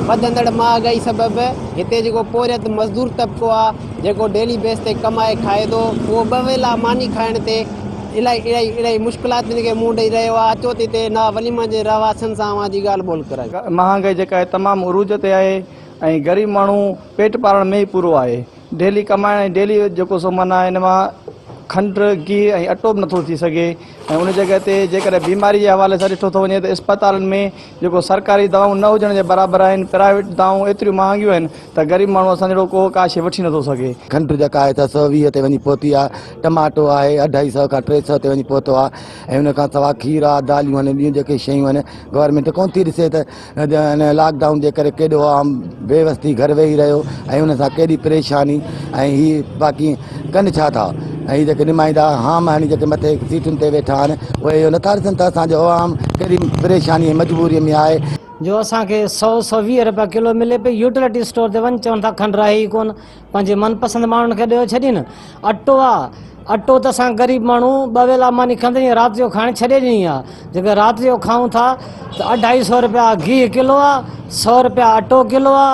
وڌندڙ مهانگائي سبب هتي جيڪو پورهيت مزدور طبقو آ جيڪو ڊيلي بيس تي ڪمائي کائي ٿو اهو ٻه ويلا ماني کائڻ تي الائي الائي الائي مشڪلاتن کي منهن ڏئي رهيو آ اچو ته هتي نا وليمن جي رهواسين سان اوهان جي ڳالهه ٻولهه ڪرايون. مهانگائي جيڪا آهي تمام عروج تي آهي ۽ غريب ماڻهو پيٽ پالڻ ۾ ئي پورو آهي. ڊيلي ڪمائڻ ۽ ڊيلي جيڪو سو معنيٰ ان مان کنڊ، گيهه ۽ اٽو به نٿو ٿي سگهي ۽ ان جڳهه تي جيڪڏهن بيماري جي حوالي سان ڏٺو ٿو وڃي ته اسپتالن ۾ جيڪو سرڪاري دوايون نه هجڻ جي برابر آهن، پرائيويٽ دوايون ايتريون مهانگيون آهن ته غريب ماڻهو اسان جهڙو ڪو ڪا شيء وٺي نٿو سگهي. کنڊ جيڪا آهي سا سؤ ويهه تي وڃي پهتي آهي، ٽماٽو آهي اڍائي سؤ کان ٽي سؤ تي وڃي پهتو آهي ۽ ان کان سواء کير آهي، داليون آهن ۽ ٻيون جيڪي شيون آهن گورنمينٽ ڪونه ٿي ڏسي ته هن لاڪ ڊائون جي ڪري ڪيڏو عام بي وس ٿي گهر ويهي رهيو ۽ ان سان ڪيڏي پريشاني ۽ هي باقي ڪن ڇا ٿا ۽ هي جيڪي نمائندا هام هڻي جيڪي مٿي سيٽن تي ويٺا آهن اهي اهو نٿا ڏسن ته اسان جو عوام ڪهڙي پريشاني ۽ مجبوري ۾ آهي. جو اسان کي سؤ سؤ ويهه رپيا ڪلو ملي پئي يوٽيلٽي اسٽور تي وڃ چون ٿا کنڊ رهي ئي ڪون پنهنجي من پسند ماڻهن کي ڏيو ڇڏي نه اٽو آ اٽو ته اسان غريب ماڻهو ٻه ويلا ماني کندي ۽ رات جو کائڻ ڇڏي ڏني آ جيڪي رات جو کائون ٿا ته اڍائي سئو رپيا گيهه ڪلو آ سئو رپيا اٽو ڪلو آ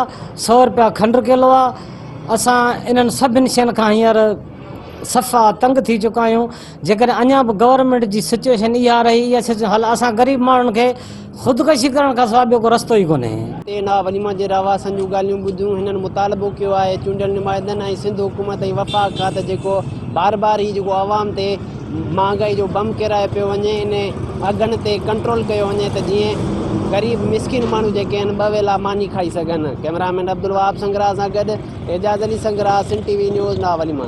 سئو رپيا کنڊ ڪلو آ اسان انهن سڀني شين کان هينئر صفا تنگ ٿي چڪا آهيون جيڪڏهن اڃا به گورنمينٽ جي سچوئيشن اها رهي اها سچوئيشن هل اسان غريب ماڻهن کي خودڪشي ڪرڻ کان سواء ٻيو ڪو رستو ئي ڪونهي. تي نا وليما جي رهواسين جون ڳالهيون ٻڌيون هنن مطالبو ڪيو آهي چونڊيل نمائندن ۽ سنڌ حڪومت ۽ وفاق کان ته جيڪو بار بار هي جيڪو عوام تي مهانگائي جو بم ڪيرايو پيو وڃي ان اگهن تي ڪنٽرول ڪيو وڃي ته جيئن غريب مسڪين ماڻهو جيڪي آهن ٻه ويلا ماني کائي سگهن ڪئميرا مين عبدالوهاب سنگراهه سان گڏ Ejaz Ali Sangrah Sindh T V news نا وليما.